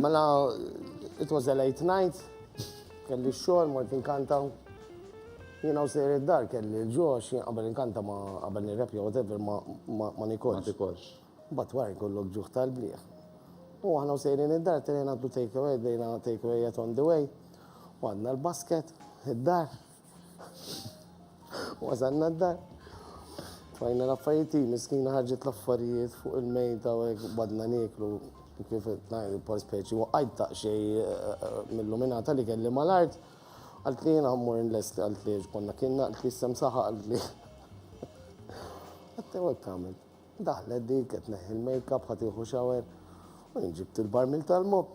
Mela, it was a late night, kelli xor, mort inkanta. Jena u sejri d-dar kelli l-ġox, għabel inkanta ma għabel nirrepja, whatever, ma nikolx. Ma nikolx. Bat war kollok ġuħ tal-bliħ. U għana u sejri d-dar, tenina għaddu take away, dejna take away yet on the way. U għadna l-basket, id-dar, Wasalna d-dar. Tfajna l-affarijiet, miskina ħarġet l-affarijiet fuq il-mejda u hekk badna nieklu kif ngħidu por speċi waqajt ta' xej eh, eh, mill-luminata li kelli mal-art. Għalt li jiena mmur nlesti għalt li konna kienna għalt li sem saħa għalt li. Għattew hekk tagħmel. Daħlet dik qed neħi l-makeup ħatiħu xawer u nġibt il-barmil tal-mob.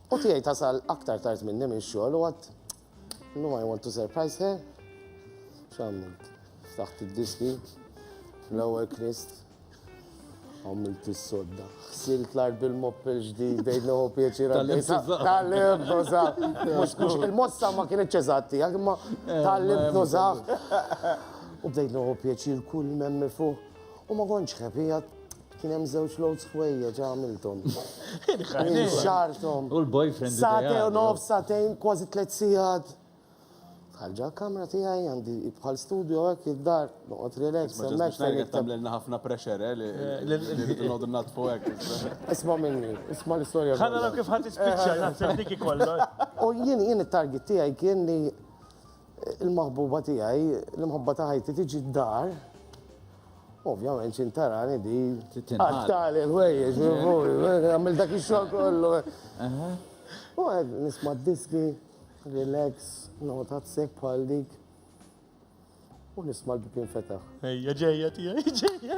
U tiegħi tasal aktar tard minni minn xogħol u għad Llum I want to surprise her. X'għamilt? Ftaħt id-diski, l-ewwel knist, għamilt is-sodda. Ħsilt l-art bil-mopp il-ġdid, bejn l pjaċir għaddej. Tal-lib, nużaħ. Mux il-mossa ma kienet ċezatti, għak ma eh, tal-lib, nużaħ. U bdejt noħu pjaċir kull memmi fuq. U ma konċ ħepijat Kien hemm żewġ loads ħwejjeġ għamilthom. Kien xarthom. U l-boyfriend. Sate u nof, satejn, kważi tliet sigħat. Ħarġa kamra tiegħi għandi bħal studio hekk id-dar, noqgħod relax. Hemmhekk tagħmlilna ħafna pressure eh, li noqgħdu natfu hekk. Isma' minni, isma' l-istorja. Ħanna kif ħadd ispiċċa eh, naħseb dik ikollok. U jien jien it-target tiegħi kien li Il-maħbuba tiegħi, l-imħabba ta' ħajti tiġi d-dar, ovvjament xi tarani di taqtali l-ħwejjeġ, għamil dak ix-xogħol kollu. U għed nisma' diski, relax, nota tsek bħal dik. U nisma' l-bibin fetaħ. Ejja ġejja tiegħi, ġejja.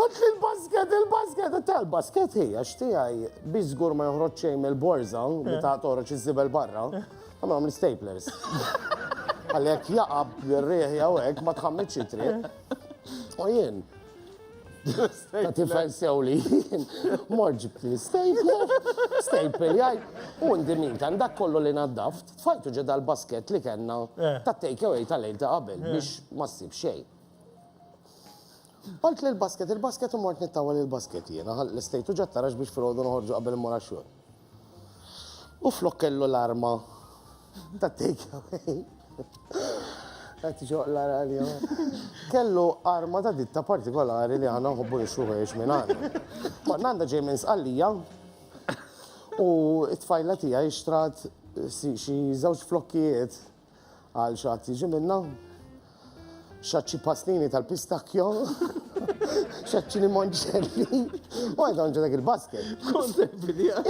Ħadt li l-basket, il-basket, ta' l-basket hi, għax tiegħi bi żgur ma joħroġ xejn mill-borża li eh. ta' toħroġ iż-żibel barra, għamlhom l-staplers. Għalli jekk jaqab l-rieħ jew hekk ma tħammitx itri. U jien, ta' tifel sew li jien, mor ġibt li staple, staple jgħid, u ndimin kan dak kollu li naddaft, tfajtu ġeda l-basket li kellna eh. ta' take away tal-lejl ta' qabel eh. biex ma ssib xejn. Għalt lil Basket il-basket u mort nittawwal il-basket jiena. Ħa l-istejtu ġat-tarax biex filgħodu noħorġu qabel immur għax-xogħol. U flok kellu l-arma tat-takeaway. Qed joqla' għalija. Kellu arma ta' ditta partikolari li aħna nħobbu nixtru ħwejjeġ minn għandha. Konna għandha ġej minn Sqallija u t-tfajla tiegħi xtrat xi żewġ flokkijiet Għal xaħat jiġi minna. Xaċċi pastini tal-pistakjo. Xaċċi li monċelli. U għajta nġu dak il-basket.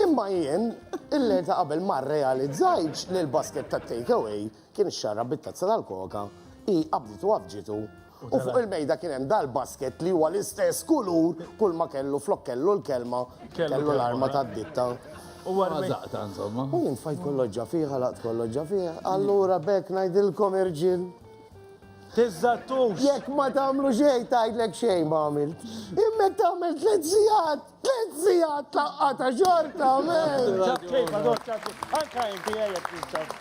Imma jien, il-lejl ta' qabel ma realizzajċ li l-basket ta' takeaway kien xarra bit-tazza tal-koka i qabditu għafġitu U fuq il-mejda kien hemm dal-basket li huwa l-istess kulur kull ma kellu flok kellu l-kelma, kellu l-arma tad-ditta. U għazaqta, insomma. U jien fajt kolloġġa fiħa, laqt kolloġġa fiħa. Allura bekk ngħidilkom irġiel. Tizzattux! Jekk ma tagħmlu xejn tgħidlek xejn ma għamilt. Immek tagħmel tliet sigħat, tliet sigħat laqgħa ta' xorta, men. Anka inti jgħid